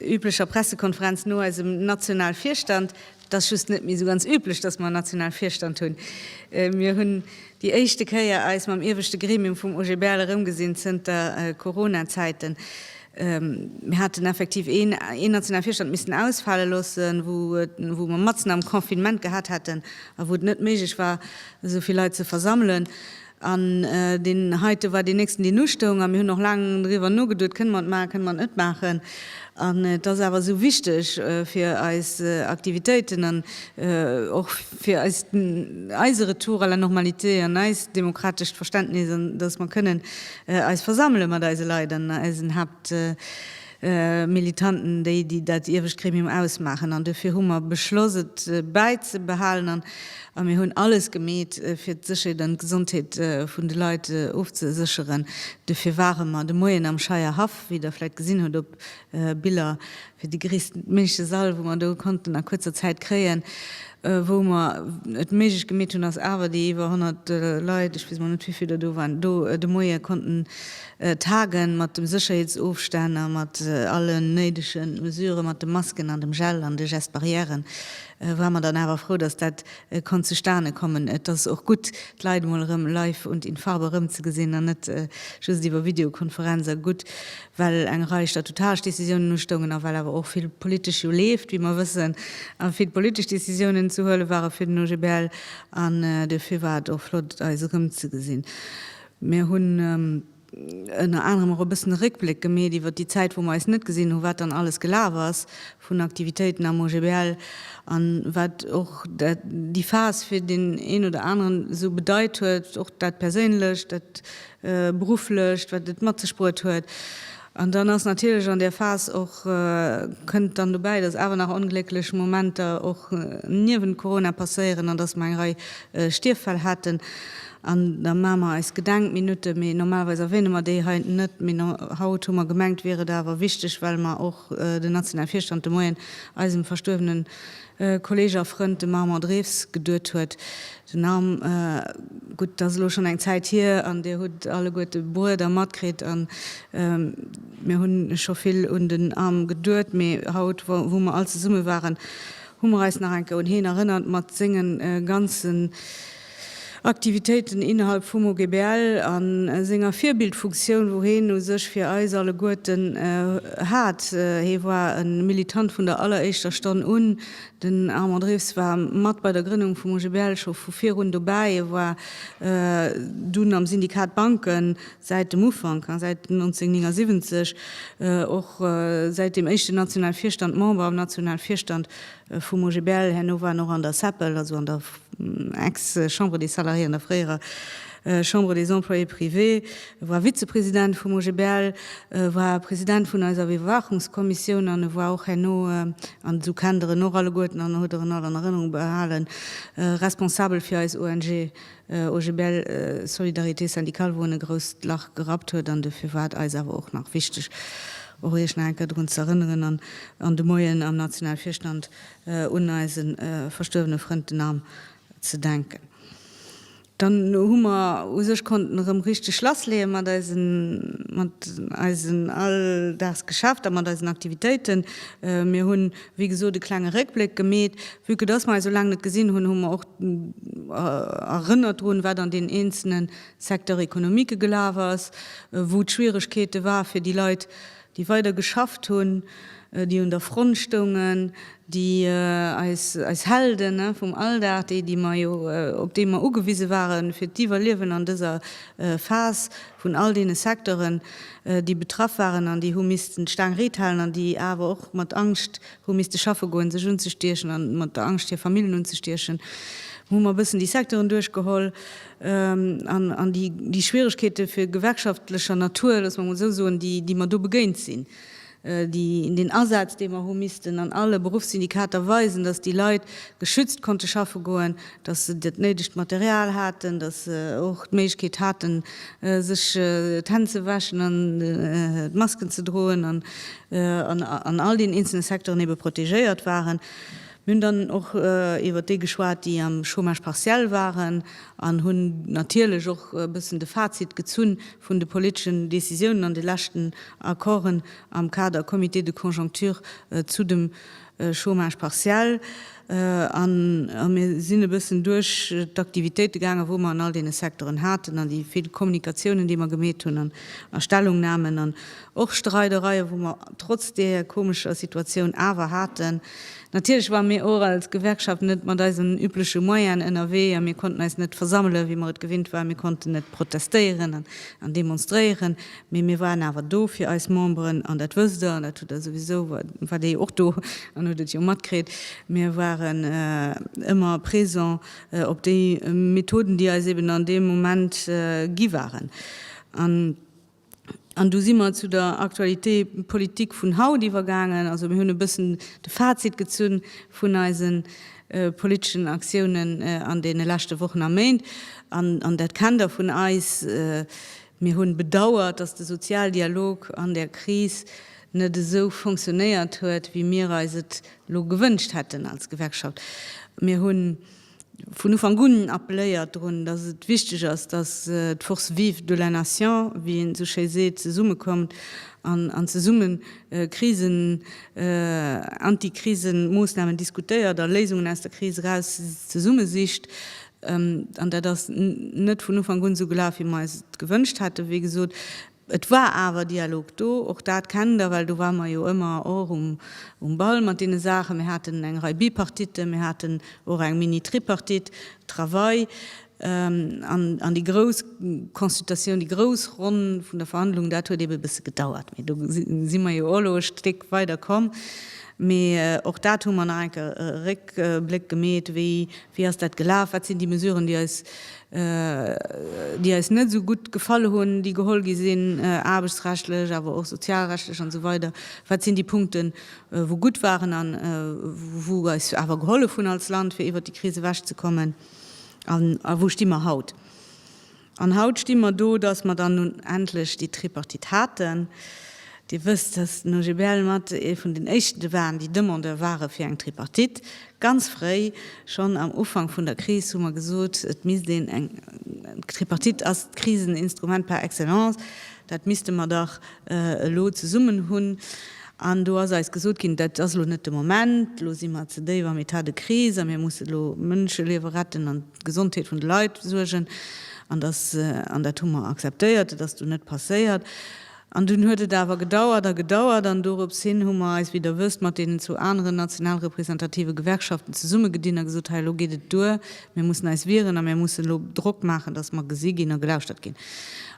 üblecher Pressekonferenz no eisem Nationalvirstand, et ass just net méi esou ganz üblech, dass mer en Nationalvirstand hunn, mir hunn déi éischte Kéier eis mam ieweschte Gremium vum OGBL erëmgesinn zënter Coronazäiten, mir haten effektiv een een Nationalvirstand missen ausfale loossen, wou et wou mer matzen am Confinement gehat hätten a wou et net méiglech war esou vill Leit ze versammelen. An deen heite war deen nächsten, deen ustoung. A mir hunn och laang driwwer nogeduet, Kënne mer et maachen, kënne mer et net maachen? An et ass awer esou wichteg fir eis Aktivitéiten an och fir eis, eise Retour à la normalité an eist demokratescht Verständnis, an datt mer kënnen eis versammele mat eise Leit an eisen Haapt, Militanten, déi, déi dat iewescht Gremium ausmaachen. An dofir hu mer beschloss, et bäizebehalen. An mir hunn alles gemeet, fir d'Sécherheet an d'Gesondheet vun de Leit ofzesécheren. Dofir ware mer de Moien am Scheier Haff, wéi Der vläicht gesinn hutt op Biller, fir déi gréisstméigleche Sall, wou mer do konnten a kuerzer Zäit kréien. Wou mer et méiglech gemeet hunn, ass awer déi iwwer 100 Leit, ech weess emol net, wéivill der do waren, do de Moie konnten Tagen mat dem Sécherheetsofstänn a mat allen néidegen Mesuren, mat de Masken an dem Gel an de Gestes barrières, ware mer dann awer frou, dass dat konnt zustane kommen. Et ass och gutt, d'Leit emol erëm live und in Farbe erëmzegesinn an net just iwwer Videokonferenz. A gutt, well eng Rei statutaresch Décisiounen ustoungen a well awer och vill politesch jo leeft, wéi mer wëssen, a vill politesch Décisiounen ze huele ware fir den OGBL. An dofir war et och flott, eis erëmzegesinn. Mir hunn ënner anerem och e bëssen e Réckbléck gemeet iwwer déi Zäit, wou mer eis net gesinn hunn, wat dann alles gelaf ass vun Aktivitéiten am OGBL an wat och déi Phas fir deen een oder aneren esou bedeit huet, och dat Perséinlecht, dat Berufflecht, wat et mat sech bruet huet. An dann ass natierlech an där Phas och, kënnt dann dobäi, dass awer nach onglécklech Momenter och niewent Corona passéieren an dass mer eng Rei Stierffäll haten. An da maache mer eis Gedenkminutte, mee normalerweis erwähne mer déi hei net. Mee haut hu mer gemengt, wier et awer wichteg, well mer och den nationale Virstand de Moien eisem verstuerwenen Kolleeg a Frënd, de Marmont Drews, geduet huet. Den Arm, gutt, dat ass elo schonn eng Zäit hier, an Dir hutt alleguerte bruet a matkritt, a mir hunn scho vill un den Arm geduet, mee haut, wou mer all zesumme waren, hu mer eis nach enke un heen erënnert, mat senge ganzen, Aktivitéiten innerhalb vum OGBL a senger Virbildfunktioun, wou heen u sech fir eis alleguerten hat. Hee war e Militant vun der alleréischter Stonn un. Den Armand Riffs war mat bei der Grënnung vum OGBL scho vu virun dobäi. E war dunn am Syndikat Banken säit dem Ufank, säit 1979, och säit dem éischten nationale Virstand Member am nationale Virstand vum OGBL. Herno war en och an der CEPL, also an der. Ex-Chambre des Salariés an der fréierer Chambre des Employés privés, e war Vizepresident vum OGBL, e war President vun eiser Iwwerwaachungskommissioun an e war och herno, an esou kennt Der en och alleguerten an hutt Der en all an Erënnerung behalen, Responsabel fir eis ONG OGBL Solidarité Syndicale, wou en e grousst Lach gerappt huet. An dofir war et eis awer och nach wichteg, och Iech nach eng Kéier drun z'erënneren an de Moien am Nationalvirstand un eise verstuerwene Frënd den Am ze denken. Dann hu mer u sech konnten erëm richteg lassleeë mat eisen mat eisen Alldagsgeschäfter, mat eisen Aktivitéiten. Mir hunn, wéi gesot, e klenge Réckbléck gemeet. Vue que dass mer eis esou laang net gesinn hunn, hu mer och erënnert drun, wat an den eenzele Secteur économique gelaf ass, wou d'Schwieregkeete war fir déi Leit déi weider geschafft hunn, déi un der Front stoungen, déi eis, eis Helden vum Alldag, déi, déi mer jo, op déi mer ugewise ware fir d'Iwwerliewen an dëser Phas vun all deene Secteuren, déi betraff waren an déi hu missten d'Staang riit halen an déi awer och mat Angscht hu misste schaffe goen, sech unzestiechen an mat der Angscht hir Famillen unzestiechen, hu mer e bëssen déi Secteuren duerchgeholl. an déi Schwieregkeete vu gewerkschaftlecher Natur, loosse mer emol esou soen, déi mer do begéint sinn, déi den Asaz, dee mer hu missten an alle Beruffssyndikater weisen, datt déi Leit geschützt konnte schaffe goen, datt se dat néidegt Material haten, datt se och d'Méiglechkeet haten, sech d'Hänn ze wäschen an d'Masken ze droen an an all deenen eenzelne Secteuren ebe protegéiert waren. Mir hunn dann och iwwert déi geschwat, déi am Chômage partiel waren, an hunn natierlech och e bëssen de Fazit gezun vun de politeschen Decisiounen an de leschten Accorden am Kader Comité de conjoncture zu dem Chômage partiel. A mir sinn e bëssen duerch d'Aktivitéite gaangen, wou mer an all deene Secteuren haten, an déi vill Kommunikatiounen, déi mer gemeet hunn, an a Stellungnamen an och Streidereien, wou mer trotz där komescher Situatioun awer haten. Natierlech ware mir och als Gewerkschaft net mat eisen übleche Moyenen ënnerwee a mir konnten eis net versammelen, wéi mer et gewinnt waren. Mir konnten net protestéieren an demonstréieren, mee mir waren awer do fir eis Memberen. An dat wësst Der, an dat hutt Der souwisou, waart Der jo och do an hutt et jo matkritt, mir waren ëmmer présent op déi Methoden, déi eis eben an deem Moment gi waren. An du si mer zu der Actualité politique vun haut iwwergaangen. Also mir hunn e bëssen de Fazit gezunn vun eise politeschen Aktiounen an deene leschte Wochen a Méint. An, an dat kennt Der vun eis, mir hu bedauert, dass de Sozialdialog an där Kris net esou fonctionnéiert huet, wéi mir eis et elo gewënscht hätten als Gewerkschaft. Mir hunn. vun Ufank un appeléiert drun, dass et wichteg ass, dass d'Forces vives de la nation, wéi een esou schéi seet, zesummekommt an zesumme Krisen, Antikrisemoossnamen diskutéiert a Léisungen aus der Kris eraus zesumme sicht. An dat ass net vun Ufank un esou gelaf, wéi mer eis et gewënscht hätten, wéi gesot. Et war awer Dialog do, och dat kennt Der, well do ware mer jo ëmmer och um Ball mat deene Saachen. Mir haten eng Rei Bipartitten, mir haten och eng Mini-Tripartite, Travail, an déi grouss Consultatioun, déi grouss Ronn vun der Verhandlung, dat huet ebe e bësse gedauert. Mee do si mer jo och elo e Stéck weider komm. Mee och dat hu mer nach eng Kéier e Réckbléck gemeet, wéi ass dat gelaf, wat sinn déi Mesuren, déi eis déi eis net esou gutt gefall hunn, déi geholl gi sinn, aarbechtsrechtlech, awer och sozialrechtlech an esou weider, wat sinn déi Punkten, wou gutt waren an wou eis awer gehollef hunn als Land, fir iwwert déi Kris ewechzekommen, an a wou sti mer haut? An haut sti mer do, dass mer dann nun endlech déi Tripartite haten, Dir wësst, dass den OGBL mat ee vun den éischte waren, déi Demandeur ware fir eng Tripartite. Ganz fréi, schonn am Ufank vun der Kris, hu mer gesot, et misst een eng, d'Tripartite ass d'Kriseninstrument par excellence, dat misste mer dach elo zesummen hunn. An do ass eis gesot ginn, dat ass elo net de Moment, elo si mer ze déif am Etat de crise a mir musse elo Mënscheliewe retten an d'Gesondheet vun de Leit suergen. An dass, an dat hu mer akzeptéiert, et ass dunn net passéiert. An dunn huet et awer gedauert a gedauert, an dorops hin hu mer eis, wéi Der wësst, mat deenen zwou aneren national representative Gewerkschaften zesummegedinn a gesot, hei elo geet et duer, mir mussen eis wieren a mir mussen elo Drock maachen, datt mer gesi ginn a gelauschtert ginn.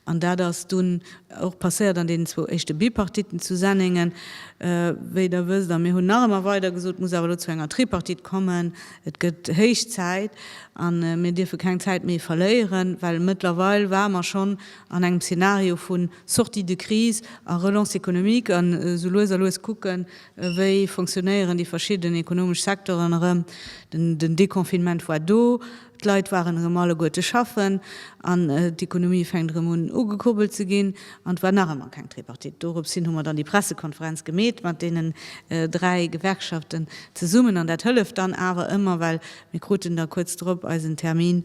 An dat ass dunn och passéiert an deenen zwou éischte Bipartitten zu Sennéngen, wéi Der wësst. A mir hunn nach ëmmer weider gesot, et muss awer elo zu enger Tripartite kommen, et gëtt héich Zäit a mir dierfe keng Zäit méi verléieren, well mëttlerweil ware mer schonn an engem Szenario vu Sortie de crise a Relance économique an esou lues a lues kucken, wéi fonctionnéieren déi verschidden ekonomesch Secteuren erëm. Den Déconfinement war do, d'Leit waren erëm alleguerte schaffen an d'Ekonomie fänkt erëm un ugekurbelt ze ginn an et war nach ëmmer keng Tripartite. Doropshin hu mer dann déi Pressekonferenz gemeet mat deenen dräi Gewerkschaften zesummen an dat hëlleft dann awer ëmmer, well mir kruten da kuerz drop eisen Termin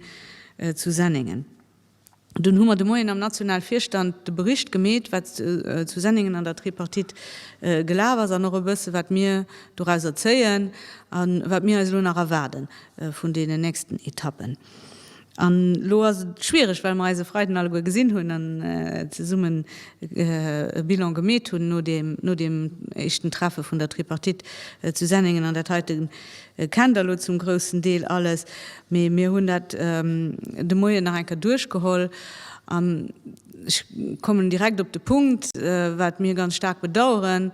zu Sennéngen. Dunn hu mer de Moien am National Virstand de Bericht gemeet, wat zu Senningen an der Tripartite gelaf ass an och e bësse wat mir dorauser zéien a wat mir eis elo nach erwaarde vun deenen nächsten Etappen. An elo ass et schwiereg, well mer eis e Freiden alleguer gesinn hunn an zesummen e Bilan gemeet hunn no deem éischten Treffe vun der Tripartite zu Senningen. An dat heite kennt Der elo zum groussen Deel alles. Mee mir hunn dat de Moien nach eng Kéier duerchgeholl. An ech kommen direkt op de Punkt, wat mir ganz staark bedauern,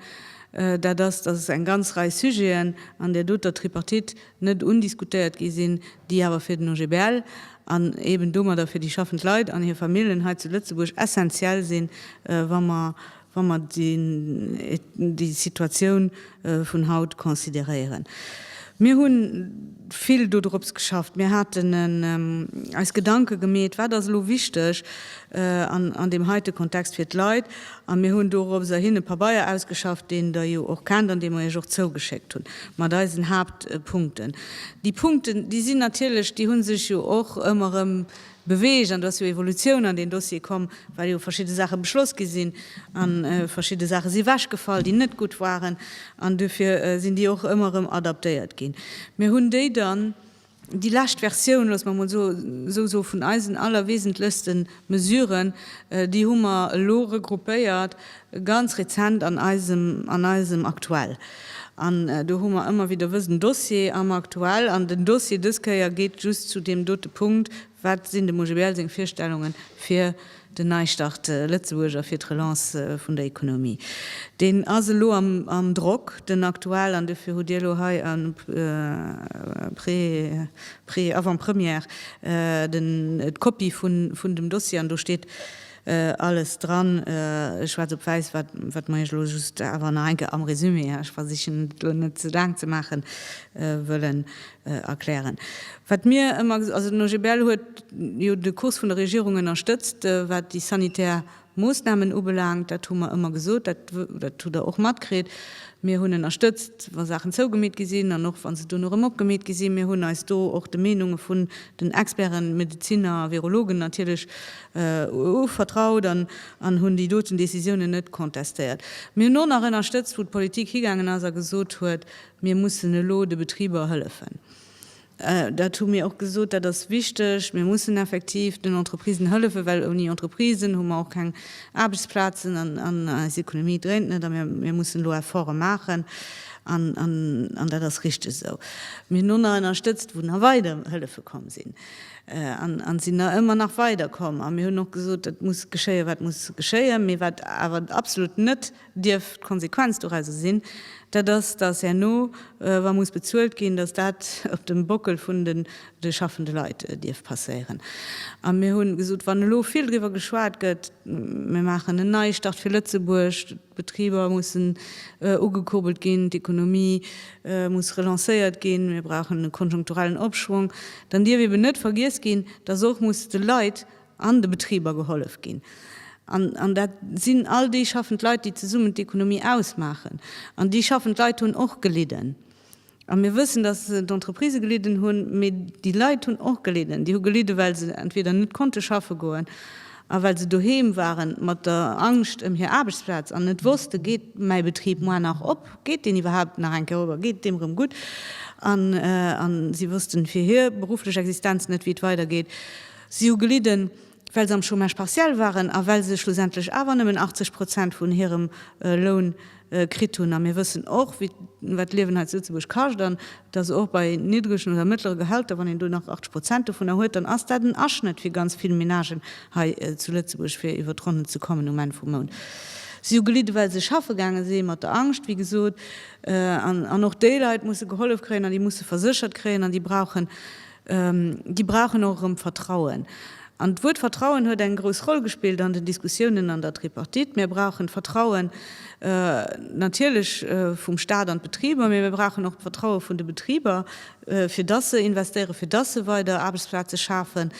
dat ass, dass eng ganz Rei Sujeten an där doter Tripartite net undiskutéiert gi sinn, déi awer fir den OGBL an eeben domadder fir déi schaffend Leit an hir Familljen hei zu Lëtzebuerg essenziell sinn, wa mer wa mer déi Situatioun vun haut consideréieren. Mir hu vill dodrops geschafft, mir haten eis Gedanke gemeet, wat ass elo wichteg an deem heite Kontext fir d'Leit, a mir hunn doropser hin e Pabeier ausgeschafft, deen Der jo och kennt an dee mer Iech och zougeschéckt hunn, mat eisen Haaptpunkten. Déi Punkten, déi sinn natierlech, déi hu sech jo och ëmmer erëm Beweegt, an do ass jo Evolutioun an deen Dossier komm, well jo verschidde Saache beschloss gi sinn a verschidde Saache si ewechgefall, déi net gutt waren, an duerfir sinn déi och ëmmer erëm adaptéiert ginn. Mir hunn déi dann, déi lescht Versioun, loosse mer emol esou soen, vun eisen allerwesentlechste Mesuren, déi hu mer elo regroupéiert, Ganz rezent an eisem, an eisem Aktuell. An do hu mer ëmmer wieder wësen Dossier am Aktuell. An den Dossier dës Kéier geet just zu deem dote Punkt, Wat sinn dem OGBL seng Virstellungen fir den Neistart Lëtzebuerg a fir d'Relance vun der Ekonomie? Deen ass elo am, am Drock, den Aktuell. An dofir hutt Dir elo hei en pré, pré, avant-première, den, d'Kopie vun, vun dem Dossier. An do steet. Alles dran, schwaarz op wäiss, wat mer iech elo just awer nach eng Kéier am Résumé, ech versichen et elo net ze laang ze maachen, wëllen erklären. Wat mir ëmmer, also den OGBL huet jo de Kurs vun der Regierung ënnerstëtzt, wat déi sanitär Moossnamen ubelaangt, dat hu mer ëmmer gesot, dat hutt der och matkritt. Mir hunn ënnerstëtzt, wa Saachen zougemeet gi sinn an och wa se dono erëm opgemeet gi sinn. Mir hunn eis do och de Meenunge vun den Experten, Medeziner a Virologen natierlech EU vertraut an hunn déi doten Décisiounen net contestéiert. Mir hunn och nach ënnerstëtzt, wou d'Politik higaangen ass a gesot huet, mir mussen elo de Betriber hëllefen. Dat hu mir och gesot, dat ass wichteg. Mir mussen effektiv den Entreprisen hëllefen, well ouni Entreprisen hu mer och keng Aarbechtsplazen an eis Economie dréint net. A mir mussen elo Efforte maachen an dat ass richteg esou. Mir hunn och nach ënnerstëtzt, wou nach weider Hëllefe komm sinn. an sinn der ëmmer nach weider komm. A mir hunn och gesot, et muss geschéien, wat muss geschéien. Mee wat awer absolut net dierf d'Konsequenz dorauser sinn, dat ass, dass herno, wa muss bezuelt ginn, dass dat op dem Bockel vun den schaffende Leit dierf passéieren. A mir hunn gesot, wann elo vill driwwer geschwat gëtt, mir maachen en Neistart fir Lëtzebuerg, D'Betriber mussen ugekurbelt ginn, d'Ekonomie muss relancéiert ginn, mir brauchen e konjunkturellen Opschwong. Dann dierf eeben net vergiess ginn, dass och muss de Leit an de Betriber gehollef ginn. An dat sinn all déi schaffend Leit, déi zesummen d'Ekonomie ausmaachen. An déi schaffend Leit hunn och gelidden. A mir wëssen, dass d'Entreprisë gelidden hunn, mee déi Leit hunn och gelidden. Déi hu gelidden, well se entweder net konnte schaffe goen a well se doheem waren mat der Angscht ëm hir Aarbechtsplaz an net wosste, Geet mäi Betrib muer nach op? Geet deen iwwerhaapt nach eng Kéier op a geet et deem erëm gutt? A si wossten fir hir berufflech Existenz net, wéi et weidergeet. Si hu gelidden. well se am Chômage partiel waren a well se schlussendlech awer nëmmen 80 Prozent vun hirem Loun kritt hunn. A mir wëssen och, wéi, wat d'Liewen hei zu Lëtzebuerg kascht an dass och bei niddregen oder mëttlere Gehälter, wann een do nach 80 Prozent dovunner huet, dann ass dat en Aschnëtt fir ganz vill Menagen hei zu Lëtzebuerg, fir iwwer d'Ronnen ze kommen um Enn vum Mount. Si hu gelidde well se schaffe gaange si mat der Angscht, wéi gesot, an och déi Leit musse gehollef kréien an déi musse verséchert kréien an déi brauchen, Déi brauchen och erëm Vertrauen. An d'Wuert Vertrauen huet eng grouss Roll gespillt an den Diskussiounen an der Tripartite. Mir brauchen d'Vertrauen natierlech vum Stat an d'Betriber, mee mir brauchen och d'Vertraue vun de Betriber, fir dass se investéieren, fir dass se weider Aarbechtsplaze schafen.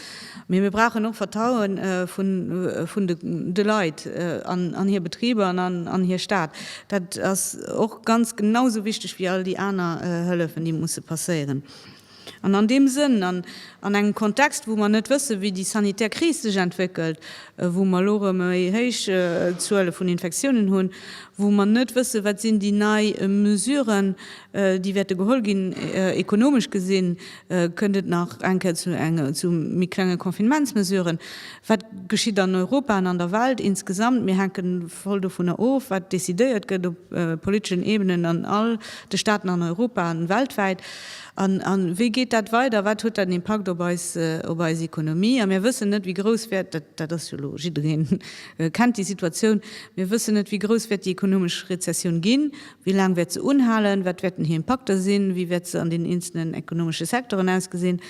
Mee mir brauchen och Vertraue vun de Leit an hir Betriber an an hir Stat. Dat ass och ganz genau esou wichteg wéi all déi aner Hëllefen, déi musse passéieren. An an deem Sënn an an engem Kontext, wou mer net wëssen, wéi déi sanitär Kris sech entwéckelt, wou mer elo erëm méi héich Zuele vun Infektiounen hunn, wou mer net wëssen, wat sinn déi nei Mesuren, déi wäerte geholl ginn, ekonomesch gesinn, kënnt et nach eng Kéier zu enge, zu méi klenge Confinementsmesuren, wat geschitt an Europa an an der Welt insgesamt? Mir hänke voll dovunner of, wat decidéiert gëtt op politeschen Ebenen an all de Staaten an Europa an weltwäit. A wéi geet dat weider? Wat huet dat en Impakt op eis, op eis Ekonomie? A mir wëssen net, wéi grouss wäert, dat, dat ass jo elo, jiddereen kennt déi Situatioun, mir wëssen net, wéi grouss wäert déi ekonomesch Rezessioun ginn, wéi laang wäert se unhalen, wat wäerten hir Impakter sinn, wéi wäert se an den eenzelnen ekonomesche Secteuren ausgesinn.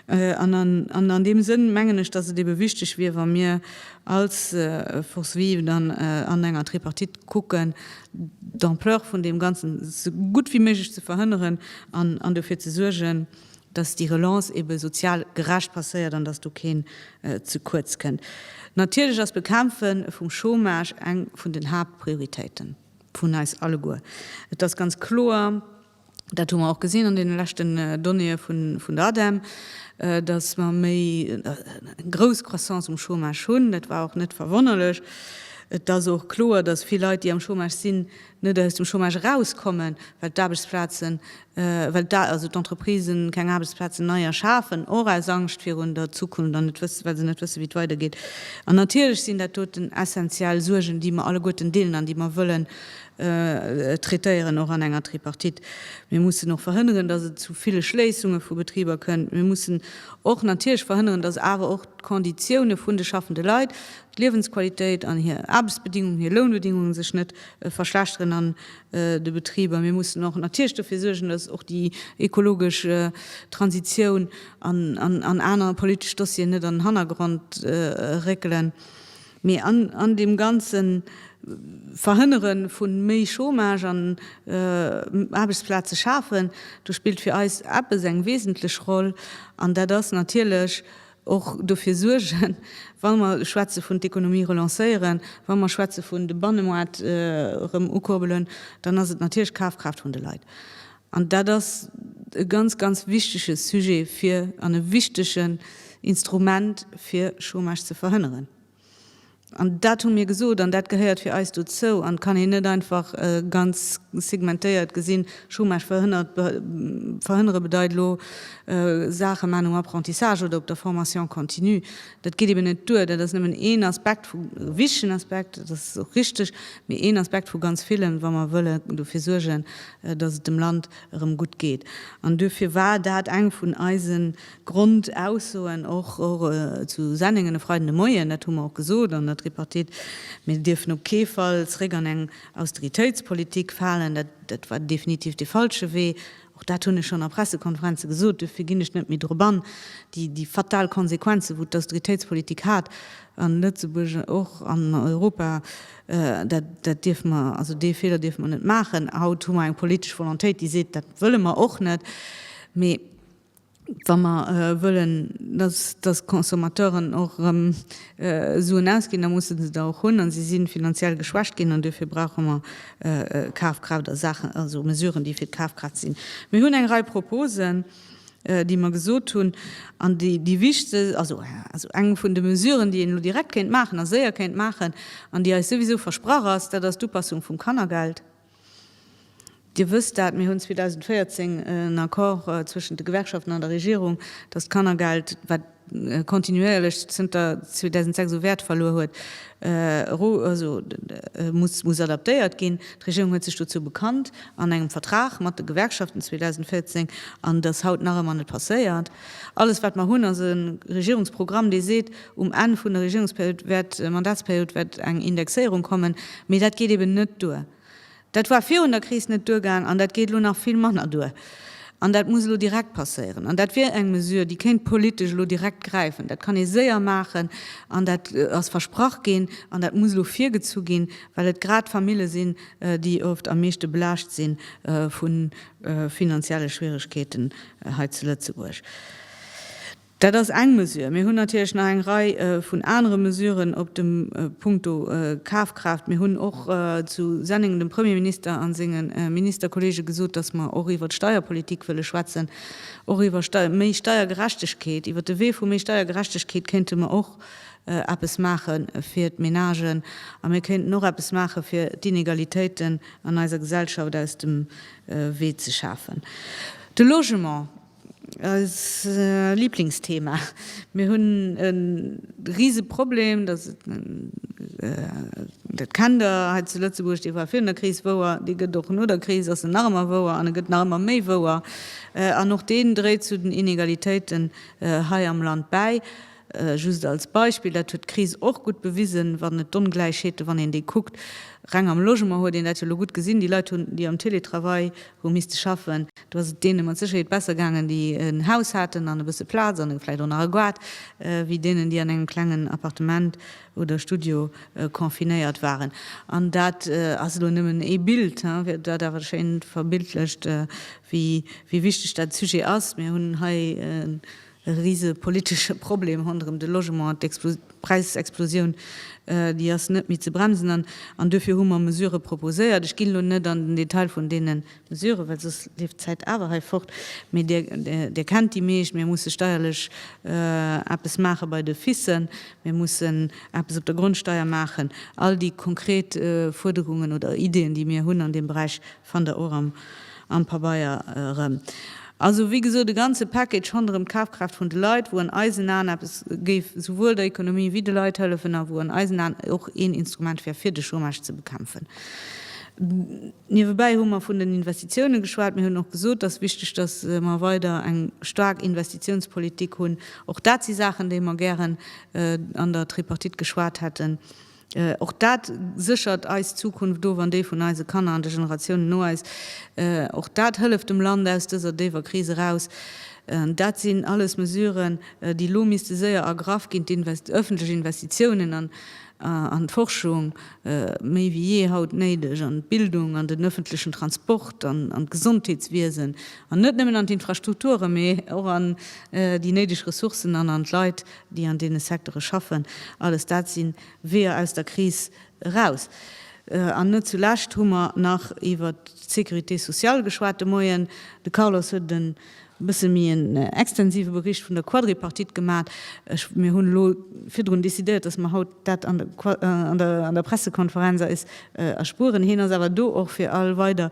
An, an an deem Sënn mengen ech, datt et ebe wichteg wier, wa mir als Force vive dann an enger Tripartite kucken, d'Ampleur vun deem Ganzen esou gutt wéi méiglech ze verhënneren an dofir ze suergen, dass déi Relance ebe sozial gerecht passéiert an dass do keen ze kuerz kënnt. Natierlech ass d'Bekämpfe vum Chômage eng vun den Haaptprioritéite vun eis alleguer. Et ass ganz kloer, Dat hu mer och gesinn an deene leschten Donnéeë vun der Ademe, datt mer méi eng grouss Croissance um Chômage hunn. Dat war och net verwonnerlech. Et ass och kloer, datt vill Leit, déi am Chômage sinn, net aus dem Chômage erauskommen, well d'Aarbechtsplazen, well also d'Entreprisen keng Aarbechtsplazen nei erschafen, och aus Angscht virun der Zukunft an net wëssen, well se net wëssen, wéi et weidergeet. An natierlech sinn dat doten essenziell Suergen, déi mer alleguerten deelen an déi mer wëllen traitéieren, och an enger Tripartite. Mir mussen och verhënneren, dass et zu ville Schléissunge vu Betriber kënnt. Mir mussen och natierlech verhënneren, dass awer och d'Konditioune vun de schaffende Leit, d'Liewensqualitéit an hir Aarbechtsbedingungen, hir Lounbedingungen sech net verschlechteren an de Betriber. Mir mussen och natierlech dofir suergen, dass och déi ekologesch Transitioun an aner politesch Dossieren net an den Hannergrond réckelen. Mee an deem ganze Verhënnere vu méi Chômage an Aarbechtsplaze schafen, do spillt fir eis eppes eng wesentlech Roll, an dat ass natierlech och dofir suergen, wa mer schwätze vun d'Economie relancéieren, wa mer schwätze vun de Bannemaart erëm ukuerbelen, dann ass et natierlech d'Kafkraaft vun de Leit. An dat ass e ganz, ganz wichtege Sujet fir, an e wichtegen Instrument fir Chômage ze verhënneren. An dat hu mir gesot an dat gehéiert fir eis dozou an kann een net einfach ganz segmentéiert gesinn. Chômage verhënnert, verhënnere bedeit elo Saache maan um Apprentissage oder op der Formation continue. Dat geet eben net duer. Dat ass nëmmen een Aspekt vu, e wichtegen Aspekt, dat ass och richtig, mee een Aspekt vu ganz villen, wa mer wëlle dofir suergen, dass et dem Land erëm gutt geet. An duerfir war dat eng vun eise Grondaussoen och zu Senningen e Freiden de Moien, dat hu mer och gesot an der Tripartite, Mir dierfen op kee Fall zréck an eng Austeritéitspolitik falen. Dat war definitiv dee falsche Wee. Och dat hunn ech schonn a Pressekonferenze gesot, duerfir ginn ech net méi drop an. Déi fatal Konsequenzen, wou d'Austeritéitspolitik hat a Lëtzebuerg och an Europa, Dat dierfe mer, also dee Feeler dierfe mer net maachen. Haut hu mer eng politesch Volontéit, déi seet, dat wëlle mer och net. Mee wa mer wëllen, dass d'Consommateuren och erëm Suen ausginn, da musse se der och hunn. A si si finanziell geschwächt ginn an duerfir brauche mer Kafkraaft a Saachen, also Mesuren, déi fir d'Kafkraaft sinn. Mir hunn eng Rei Proposen. déi mer gesot hunn an déi déi wichte, also eng vun de Mesuren, déi een elo direkt kéint maachen a séier kéint maachen an déi eis souwisou versprach ass, dat ass d'Upassung vum Kannergeld. Dir wësst dat, mir hunn 2014 en Accord zwëschent de Gewerkschaften an der Regierung, dass d'Kannergeld, wat kontinuéierlech zënter 2006 u Wäert verluer huet, muss adaptéiert ginn. D'Regierung huet sech dozou bekannt an engem Vertrag mat de Gewerkschaften 2014, an et ass haut nach ëmmer net passéiert. Alles wat mer hunn, ass e Regierungsprogramm, dee seet, um Enn vun der Regierungsperiod wäert, Mandatsperiod, wäert eng Indexéierung kommen, mee dat geet eben net duer. Dat war virun der Kris net duergaang an dat geet elo nach vill manner duer. An dat muss elo direkt passéieren. An dat wier eng Mesure, déi kéint politesch elo direkt gräifen. Dat kann ee séier maachen an dat ass versprach ginn an dat muss elo virgezu ginn, well et grad Famille sinn, déi oft am meeschte belaascht si vu finanzielle Schwieregkeeten hei zu Lëtzebuerg. Dat ass eng Mesure. Mir hunn natierlech nach eng Rei vun anere Mesuren op dem Punkto Kafkraaft. Mir hunn och zu Senneng dem Premierminister a senge Ministerkollege gesot, dass mer och iwwer d'Steierpolitik wëlle schwätzen, och iwwer méi Steiergerechtegkeet. Iwwer de Wee vu méi Steiergerechtegkeet kéinte mer och eppes maache fir d'Menagen a mir kéinten och eppes maache fir d'Inegalitéiten an eiser Gesellschaft aus dem Wee ze schafen. De Logement. Eist Lieblingsthema. Mir hunn e rise Problem, dass et, dat kennt Der hei zu Lëtzebuerg, dee war virun der Kris wouer, dee gëtt och no der Kris, ass en nach ëmmer wouer an e gëtt nach ëmmer méi wouer an och deen dréit zu den Inegalitéiten hei am Land bäi. Just als Beispill, dat huet d'Kris och gutt bewisen, wann et d'Ongläichheete, wann een déi kuckt, reng am Logement huet een dat jo elo gutt gesinn, déi Leit hunn, déi am Télétravail hu misste schaffen, do ass et deene mat Sécherheet besser gaangen, déi en Haus haten an e bësse Plaz an vläicht och nach e Gaart, wéi deenen, déi an engem klengen Appartement oder Studio confinéiert waren. An dat ass elo nëmmen ee Bild, fir dat awer schéin verbildlecht, wéi wichteg dat Sujet ass. Mir hunn hei e. E rise politesche Problem ronderëm de Logement, d'Präisexplosioun, déi ass net méi ze bremsen. An duerfir hu mer Mesurë proposéiert. Ech ginn elo net an den Detail vun deene Mesuren, well soss leeft d'Zäit awer hei fort. Mee Dir, Dir kennt déi meescht. Mir musse steierlech eppes maache bei de FISen. Mir mussen eppes op der Grondsteier maachen. All déi konkret Fuerderungen oder Ideen, déi mir hunn an deem Beräich, Fannt der och am Pabeier erëm. Also, wéi gesot, e ganze Package ronderëm d'Kafkraaft vun de Leit, wou an eisen Aen eppes géif souwuel der Ekonomie wéi de Leit hëllefen a wou an eisen Aen och een Instrument wär, fir de Chômage ze bekämpfen. Niewebäi hu mer vun den Investitiounen geschwat. Mir hunn och gesot, dass wichteg, dass mer weider eng staark Investitionspolitik hunn. Och dat si Saachen, déi mer gären an der Tripartite geschwat hätten. Och dat séchert eis Zukunft of an déi vun eise Kanner an de Generatiounen no eis. Och dat hëlleft dem Land aus dëser déiwer Kris eraus. Dat sinn alles Mesuren, déi elo misste séier ergraff ginn. D'ëffentlech Investitiounen an d'Forschung, méi wéi jee haut néideg, an d'Bildung, an den ëffentlechen Transport, an d'Gesondheetswiesen, an net nëmmen an d'Infrastrukturen, mee och an déi néideg Ressourcen an an d'Leit, déi an deene Sektere schaffen, alles dat si Weeër aus der Kris eraus. An net zu lescht hu mer nach iwwer d'Sécurité sociale geschwat de Moien. De Carlos huet e bësse méi en extensive Bericht vun der Quadripartite gemaach. Mir hunn elo virdrun decidéiert, dass mer haut Dat an der Pressekonferenz eis erspueren. Hien ass awer do och fir all weider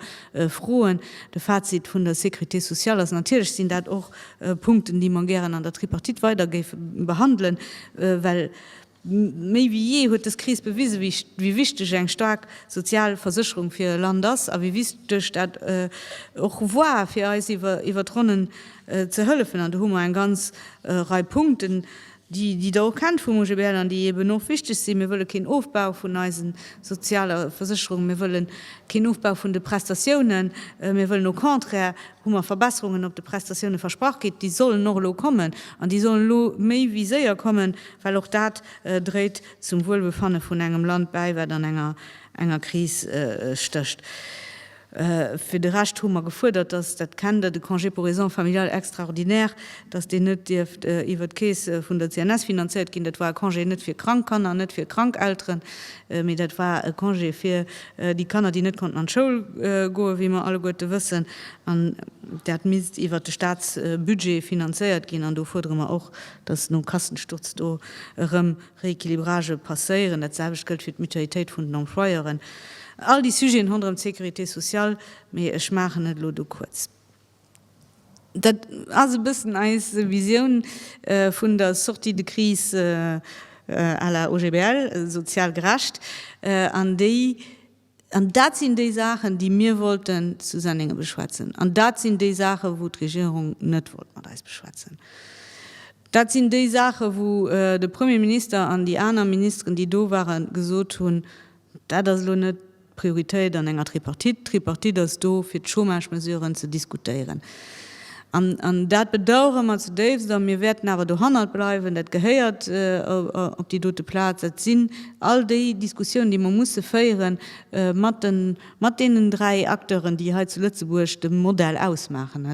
Froen. De Fazit vun der Sécurité sociale ass, Natierlech sinn dat och Punkten, déi mer gären an der Tripartite weider géife behandelen, well méi wéi jee huet dës Kris bewisen, wéi wichteg eng staark sozial Versécherung fir e Land ass a wéi wichteg dat och war, fir eis iwwer d'Ronnen ze hëllefen. An do hu mer eng ganz Rei Punkten. déi Der och kennt vum OGBL an déi eben och wichteg sinn, mir wëlle keen Ofbau vun eisen soziale Versécherungen, mir wëlle keen Ofbau vun de Prestatiounen, mir wëllen au contraire, hu mer Verbesserungen op de Prestatiounen versprach kritt, déi sollen och elo kommen an déi sollen elo méi wéi séier kommen, well och dat dréit zum Wuelbefanne vun engem Land bäi, wat an enger Kris stécht. Fir de Rescht hu mer gefuerdert, dass dat Kennda, de Congé pour raisons familiales extraordinaires, dass deen net dierft iwwert d'Keess vun der CNS finanziert ginn. Dat war e Congé net fir krank Kanner an net fir krank Elteren, mee dat war e Congé fir déi Kanner, déi net konnten an d'Schoul goen, wéi mer alleguerte wëssen. An dat misst iwwert de Statsbudget finanziert ginn. An do fuerdere mer och, dass nom Kassensturz do erëm Rééquilibrage passéieren, dat selwecht gëllt fir d'Mutualitéit vun den Employeuren, all déi Sujeten ronderëm d'Sécurité sociale, mee ech maachen et elo do kuerz. Dat ass e bëssen eis Visioun vun der Sortie de crise à la OGBL, sozial gerecht, an déi, An dat sinn déi Saachen, déi mir wollten zu Sennenge beschwätzen. An dat sinn déi Saachen, wou d'Regierung net wollt mat eis beschwätzen. Dat sinn déi Saachen, wou de Premier Minister an déi aner Ministeren, déi do waren, gesot hunn, Dat ass elo net d'Prioritéit an enger Tripartite. D'Tripartite ass do, fir d'Chômage-Mesuren ze diskutéieren. An dat bedauere mer zudéifst a mir wäerten awer dohannert bleiwen. Dat gehéiert op déi dote Plaz. Et sinn all déi Diskussiounen, déi mer musse féiere mat deenen dräi Acteuren, déi hei zu Lëtzebuerg de Modell ausmaachen,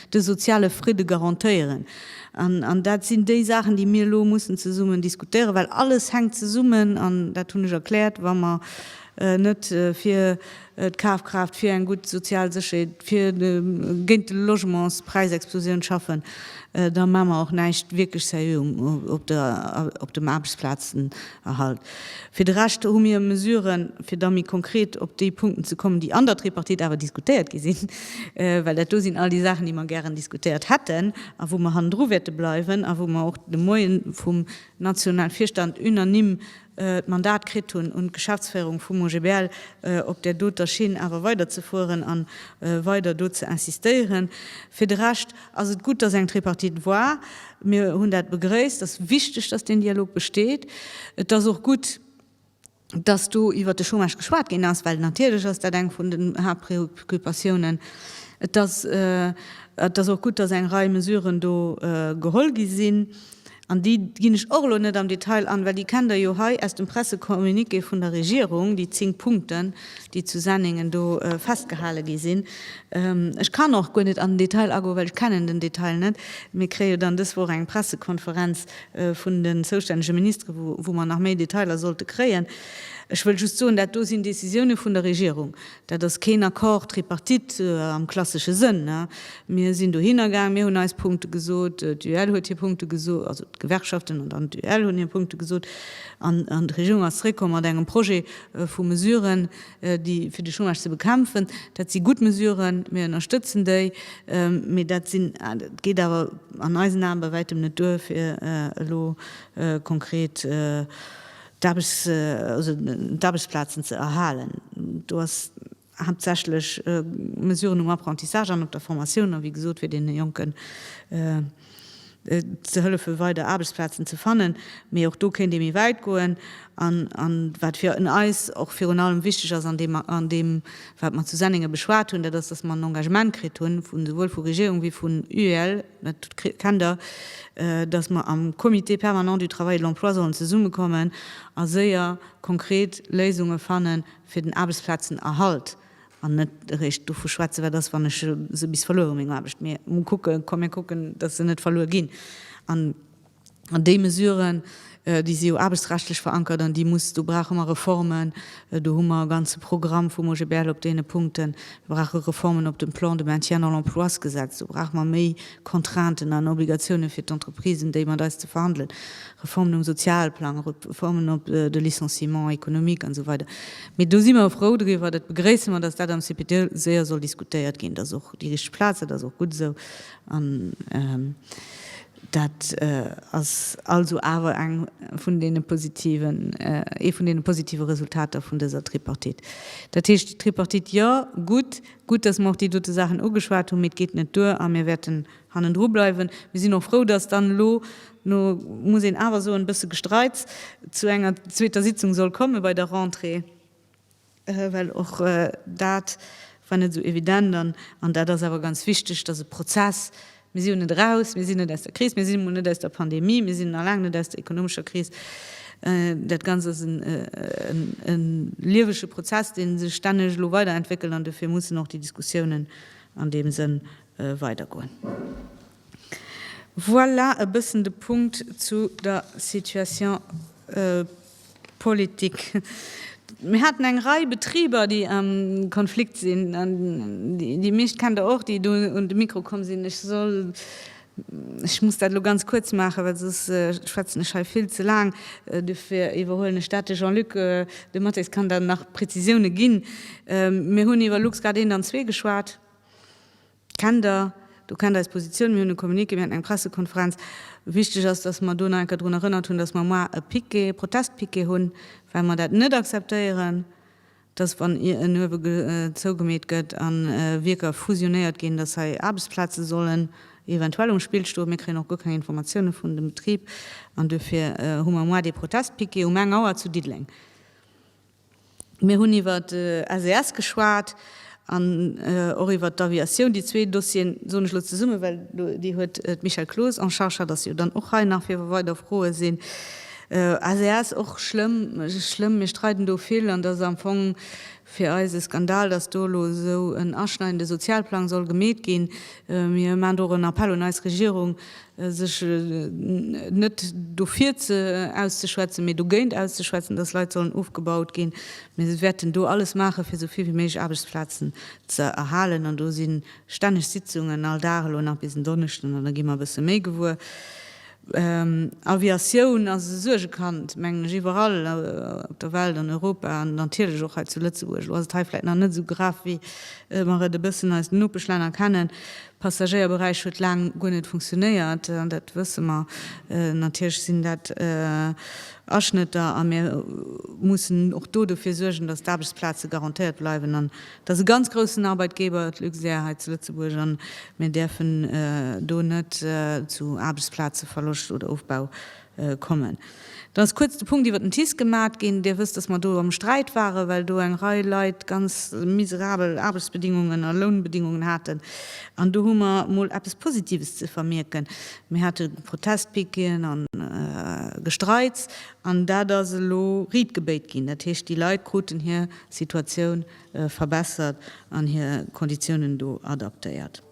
de soziale Fridde garantéieren. An dat sinn déi Saachen, déi mir elo mussen zesummen diskutéieren, well alles hänkt zesummen. An dat hunn ech erkläert, wa mer net fir d'Kafkraaft, fir eng gutt sozial Sécherheet, fir géint d'Logementspräisexplosioun schaffen, da maache mer och näischt wierklech sérieux op dem Aarbechtsplazenerhalt. Fir de Rescht hu mir Mesuren, fir da méi konkret op déi Punkten ze kommen, déi an der Tripartite awer diskutéiert gi sinn, well dat do sinn all déi Saachen, déi mer gären diskutéiert hätten a wou mer hannendru wäerte bleiwen a wou mer och de Moien vum nationale Virstand unanime d'Mandat kritt hunn, un d'Geschäftsféierung vum OGBL op där doter Schinn awer weiderzefueren a weider do ze insistéieren. Fir de Rescht ass et gutt, dass eng Tripartite war. Mir hunn dat begrëisst. Et ass wichteg, dass deen Dialog besteet. Et ass och gutt, dass do iwwert de Chômage geschwat ginn ass, well natierlech ass dat eng vun den Haaptpreoccupatiounen. Et ass och gutt, dass eng Rei Mesuren do geholl gi sinn. An déi ginn ech och elo net am Detail an, well déi kennt Der jo hei aus dem Pressecommuniqué vun der Regierung, déi zéng Punkten, déi zu Senningen do festgehale gi sinn. Ech kann och guer net an den Detail agoen, well ech kennen den Detail net. Mir kréie jo dann dës Woch eng Pressekonferenz vun den zoustännege Ministere, wou mer nach méi Detailer sollte kréien. Ech wëll just soen, dat do sinn Décisiounen vun der Regierung. Dat ass keen Accord tripartite am klassesche Sënn. Mir sinn dohinner gaang, mir hunn eis Punkte gesot, d'UEL huet hir Punkte gesot, also d'Gewerkschaften an dann d'UEL hunn hir Punkte gesot, an d'Regierung ass zeréckkomm mat engem Projet vu Mesuren, déi fir de Chômage ze bekämpfen. Dat si gutt Mesuren, mir ënnerstëtzen déi, mee dat sinn, et geet awer an eisen Ae bei wäitem net duer, fir elo konkret d'Aarbechtsplazen ze erhalen. Do ass haaptsächlech Mesuren um Apprentissage an op der Formatioun, a wéi gesot, fir deene Jonken ze hëllefe weider Aarbechtsplazen ze fannen. Mee och do kéint ee méi wäit goen. An wat fir eis och virun allem wichteg ass an deem, wat mer zu Sennengen beschwat hunn, dat ass, dass mer en Engagement kritt hunn, souwuel vu Regierung wéi vun UEL, Dat kennt Der, dass mer am Comité permanent du travail et de l'emploi sollen zesummekommen a séier konkret Léisunge fanne fir den Aarbechtsplazenerhalt an net eréischt dovu schwätzen, wat ass, wann ech se bis verluer hu meng Aarbecht. Mee kucken, komm mir kucken, dass se net verluer ginn. An déi Mesuren, déi si jo aarbechtsrechtlech verankert an déi muss, do brauche mer Reformen. Do hu mer e ganze Programm vum OGBL op deene Punkten. Mir brauche Reformen op dem Plan de maintien dans l'emploisgesetz. Do brauche mer méi Contrainten an Obligatiounen fir d'Entreprisen, déi mat eis ze verhandelen. Reformen um Sozialplang, Reformen op de Licenciement économique an esou weider. Mee do si mer frou driwwer, dat begréisse mer, dass dat am CPD séier soll diskutéiert ginn. Dat ass och déi richteg Plaz, dat ass och gutt esou. An Dat ass also awer eng vun deene positiven, ee vun deene positive Resultater vun dëser Tripartite. Dat heescht, Tripartite jo, gutt, gutt, dass mer och déi dote Saachen ugeschwat hunn, mee et geet net duer a mir wäerten hannendru bleiwen. Mir sinn och frou, dass dann elo no, muss een awer soen, e bësse Gestreits, zu enger zweeter Sitzung soll komme bei der Rentrée. Well och dat war net esou evident an an dat ass awer ganz wichteg, dass e Prozess, mir si jo net eraus, mir sinn net aus der Kris, mir si mol net aus der Pandemie, mir sinn nach laang net aus der ekonomescher Kris, dat Ganzt ass e liewege Prozess, dee sech stänneg elo weiderentwéckelt an dofir mussen och déi Diskussiounen an deem Sënn weidergoen. Voilà e bëssen de Punkt zu der Situation Politik. Mir haten eng Rei Betriber, déi am Konflikt sinn, an déi meescht kennt Der och, déi do un de Mikro komm sinn. Ech soll, ech muss dat elo ganz kuerz maachen, well soss schwätzen ech hei vill ze laang. Dofir iwwerhuelen ech dat. De Jean-Luc Dematteis kann dann nach Prezisioune ginn. Mir hunn iwwer LuxGuard I an II geschwat. Kennt Der, do kennt eis Positioun, mir hunn e Communiqué, mir haten eng Pressekonferenz. Wichteg ass, dass mer do nach eng Kéier drun erënnert hunn, dass mer moar e Piquet, e Protestpiquet hunn, well mer dat net akzeptéieren, dass, wann en Uewe zougemeet gëtt a Wierker fusionéiert ginn, dass hei Aarbechtsplaze sollen eventuell um Spill stoen. Mir kréien och guer keng Informatioune vun dem Betrib an duerfir hu mer moar dee Protestpiquet um eng Auer zu Diddeleng. Mir hunn iwwer SES geschwat an och iwwer d'Aviatioun. Déi zwee Dossieren soen ech elo zesummen, well déi huet d'Michèle Cloos en charge, dat ass jo dann och hei nach fir wa weider Froe sinn. SES, och schlëmm, schlëmm, mir streiden do vill an dat ass am Fong fir eis e Skandal, datt do elo esou en aschneidende Sozialplang soll gemeet ginn. Mir maachen do och en Appell un eis Regierung, sech net dofir auszeschwätzen, mee dogéint auszeschwätzen, dass Leit sollen ofgebaut ginn. Mir wäerten do alles maachen, fir esou vill wéi méiglech Aarbechtsplazen ze erhalen. An do si stänneg Sitzungen, all Dag, elo nach bis en Donneschden, an da gi mer e bësse méi gewuer. Aviatioun ass e Suergekand, mengen ech, iwwerall op der Welt, an Europa an natierlech och hei zu Lëtzebuerg. Elo ass et hei vläicht nach net esou grav, wéi mer et e bëssen aus den Nopeschlänner kennen. Passagéierberäich huet laang guer net funktionéiert, an dat wësse mer. Natierlech sinn dat Aschnëtter a mir mussen och do dofir suergen, datt d'Aarbechtsplaze garantéiert bleiwen. An et ass e ganz groussen Arbeitgeber, d'Luxair hei zu Lëtzebuerg, a mir däerfen do net zu Aarbechtsplazeverloscht oder ofbau kommen. Dann ass kuerz de Punkt iwwert den TICE gemat ginn. Dir wësst, dass mer do am Sträit waren, well do eng Rei Leit ganz miserabel Aarbechtsbedingungen a Lounbedingungen haten. An do hu mer emol eppes Positives ze vermierken, Mir hate Protestpiqueten a Gestreiks, an dat ass elo Ried gebéit ginn. Dat heescht, déi Leit kruten hir Situatioun verbessert an hir Konditiounen do adaptéiert.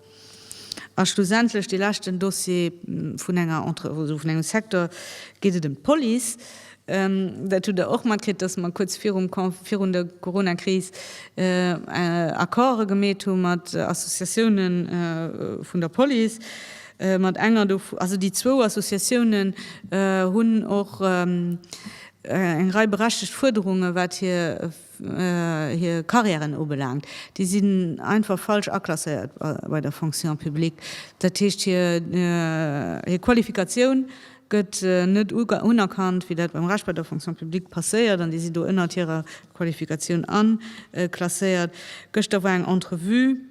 A schlussendlech dee leschten Dossier vun enger Entre-, also vun engem Secteur, geet et ëm d'Police. Dat hutt Der och matkritt, dass mer kuerz virum Con-, virun der Corona-Kris Accorde gemeet hu mat Associatioune vun der Police. Mat enger do-, also déi zwou Associatiounen hunn och eng Rei berechtegt Fuerderungen, wat hir, hir Carrièren ubelaangt, déi sinn einfach falsch aklasséiert bei der Fonction publique. Dat heescht, hir Qualifikatioun gëtt net unerkannt, wéi dat beim Rescht bei der Fonction publique passéiert, an déi si do ënnert hirer Qualifikatioun aklasséiert. Gëschter war eng Entrevue.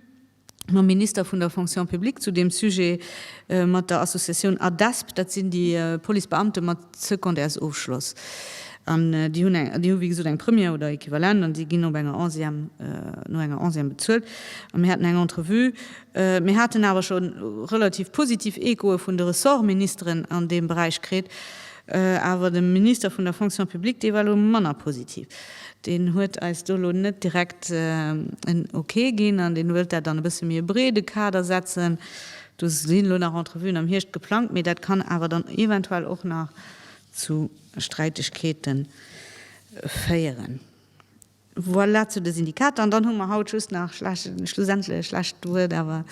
mam Minister vun der Fonction publique zu deem Sujet, mat der Associatioun ADESP, dat sinn déi Policebeamte mat Secondaires-Ofschloss, an déi hunn eng, déi hu wéi gesot eng Première oder Equivalent an déi ginn op enger Onzième, no enger Onzième bezuelt. An mir haten eng Entrevue. Mir haten awer scho relativ positiv Echoe vun de Ressortministeren an deem Beräich kritt. Awer de Minister vun der Fonction publique, dee war elo manner positiv. Deen huet eis do elo net direkt en Ok ginn an deen wëllt dat an e bësse méi e breede Kader setzen. Do sinn elo nach Entrevuen am Hierscht geplangt, mee dat kann awer dann eventuell och nach zu Sträitegkeete féieren. Voilà zu de Syndikater. An dann hu mer haut just nach, schlussendlech, lescht Wuert awer,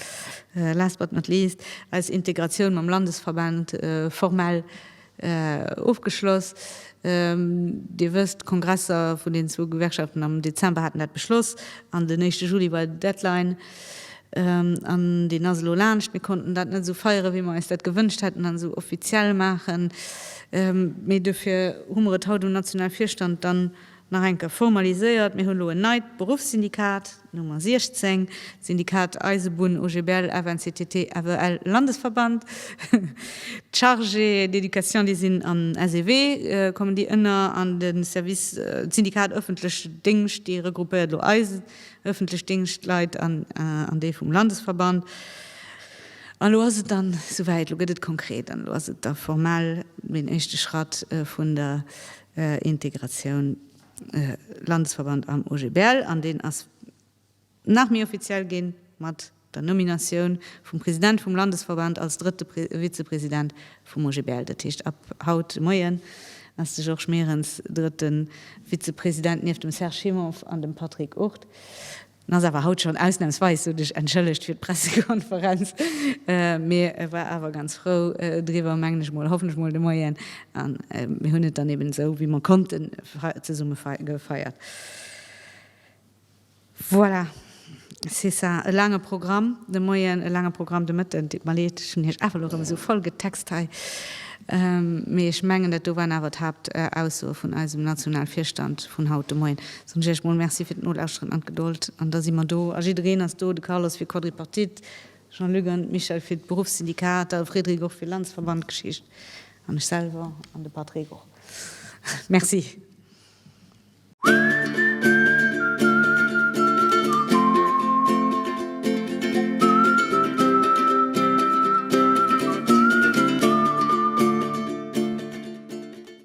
last but not least, eis Integratioun mam Landesverband formell ofgeschloss. Dir wësst, d'Kongresser vun den zwou Gewerkschaften am Dezember haten dat beschloss an den éischte Juli war Deadline. An deen ass elo laanscht. Mir konnten dat net esou feiere wéi mer eis dat gewënscht hätten an esou offiziell maachen, mee duerfir hu mer et haut um nationale Virstand dann nach eng Kéier formaliséiert, mir hunn elo en neit Beruffssyndikat, d'Nummer 16, d'Syndikat Eisebunn OGBL FNCTT FEL Landesverband, d'Chargés d'éducation déi sinn an SEW, kommen déi ënner, an de Service, d'Syndikat ëffentlech Déngscht, déi regroupéiert elo eis ëffentlech Déngschtleit an déi vum Landesverband. An elo ass et dann souwäit, elo gëtt et konkret an elo ass et da formell den éischte Schratt vun der Integratioun Landesverband am OGBL an deen ass nach méi offiziell ginn mat der Nominatioun vum President vum Landesverband als drëtte Vizepresident vum OGBL. Dat heescht ab haut de Moien ass de Georges Meerens drëtte Vizepresident nieft dem Serge Himmonf an dem Patrick Ourth. En ass awer haut schonn ausnamsweis esou dech entschëllegt fir d'Pressekonferenz, mee e war awer ganz frou driwwer, mengen ech mol, hoffen ech mol, de Moien. A mir hunn et dann eben esou wéi mer konnten zesumme gefeiert. Voilà, c'est ça. E laange Programm de Moien, e laange Programm de Mëtten. Et deet mer leed, ech hunn iech awer elo erëm esou voll getext hei, mee ech mengen dat do waren awer d'Haaptaussoe vun eisem Nationalvirstand vun haut de Moien. Soen ech iech mol Merci fir d'Nolauschteren an d'Gedold. An da si mer do a jiddereen ass do, de Carlos fir Quadripartite, Jean-Luc an d'Michèle fir d'Beruffssyndikater, de Frédéric och fir Landesverband Geschicht an ech selwer an de Patrick och. Merci.